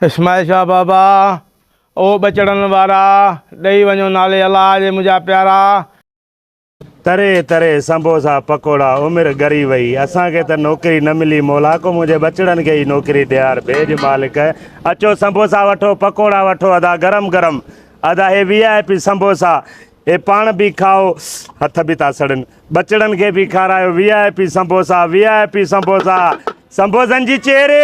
اسماعيل شاهه بابا او ٻچڙن وارا، ڏئي وڃو نالي الله جي منهنجا پيارا. تري تري سنبوسا پڪوڙا عمر ڳري وئي اسان کي ته نوڪري نه ملي مولا ڪو منهنجي ٻچڙن کي ئي نوڪري ڏيار ڀيڄ مالڪ اچو سنبوسا وٺو پڪوڙا وٺو ادا گرم گرم ادا هي وي آء پي سنبوسا هي پاڻ به کائو هٿ به ٿا سڙن ٻچڙن کي به کارايو وي آء پي سنبوسا وي آء پي سنبوسا سنبوسن جي چيري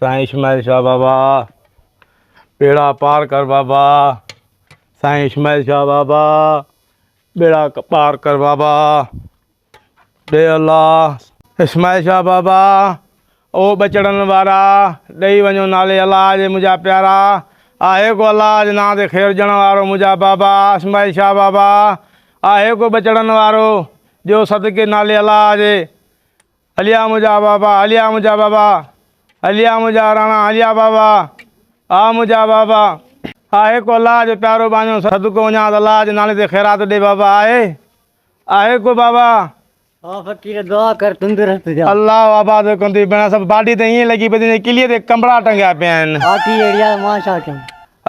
سائين اسماعيل شاهه بابا ٻيڙا پار ڪر بابا سائين اسماعيل شاهه بابا ٻيڙا پار ڪر بابا ڏي الله اسماعيل شاهه بابا او ٻچڙن وارا ڏئي وڃو نالي الله جي منهنجا پيارا آهي ڪو الله جي نان تي خير ڏيڻ وارو منهنجا بابا اسماعيل شاهه بابا آهي ڪو ٻچڙن وارو ڏيو صدقي نالي الله جي هليا منهنجا بابا هليا منهنجا بابا هليا منهنجا راڻا هليا بابا آ منهنجا بابا آهي ڪو الله جو پيارو ٻانجو صدقو وڃان ته الله جي نالي تي خيرات ڏي بابا آهي آهي ڪو بابا آ فقير دعا ڪر تندرست جا الله آباد ڪندي بنا سڀ باڊي ته ائين لڳي پئي جي ڪلي تي ڪمبڙا ٽنگيا پيا آهن باقي اڙيا مان ڇا ڪيان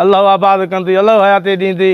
الله آباد ڪندي الله حياتي ڏيندي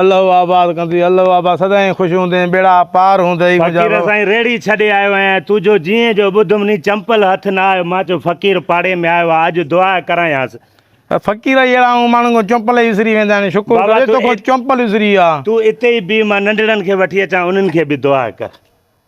الله آباد ڪندي الله آباد سدائين خوش هوندين ٻيڙا پار هوندئي منهنجا فقير وڻ. سائين ريڙهي ڇڏي آيو آهيان تون جو جيئن جو ٻڌم ني چمپل هٿ نه آيو مان چيو فقير پاڙي ۾ آيو آ اڄ دعا ڪرايانس. فقير اهي اهڙا آهون ماڻهن کان چمپل ئي وسري ويندا آهن شڪر بابا ڪري تو ڪو ات- چمپل وسري آ. تون اتي ئي بيهه مان ننڍڙن کي وٺي اچان انهن کي به دعا ڪر.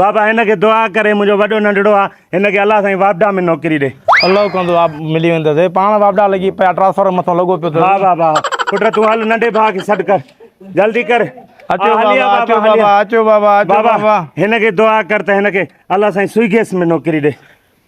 بابا هن کي دعا ڪري منهنجو وڏو ننڍڙو آ هن کي الله سائين واپڊا ۾ نوڪري ڏي. الله ڪندو آ ملي ويندس. پاڻ واپڊا لڳي پيا ٽرانسفارم مٿو لڳو پيو ٿي. ها بابا پٽ تون هل ننڍي ڀاء کي سڏ ڪر جلدي ڪر. اچو بابا اچو بابا اچو بابا اچو بابا. بابا هن کي دعا ڪر ته هن کي الله سائين سوئي گيس ۾ نوڪري ڏي.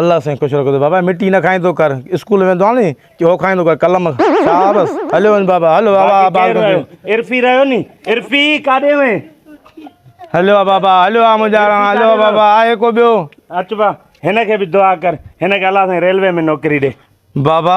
الله سائين خوش رکو ته بابا مٽي نه کائيندو ڪر اسڪول ويندو آ ني ڪي هو کائيندو ڪر قلم شاهه بس هليو وڃ بابا هل بابا آباد ڪندي وڃ عرفي رهيو ني عرفي ڪاڏي وين هليو آ بابا هليو آ منهنجا راڻا هليو آ بابا آهي ڪو ٻيو اچ با هن کي به دعا ڪر هن کي الله سائين ريلوي ۾ نوڪري ڏي بابا.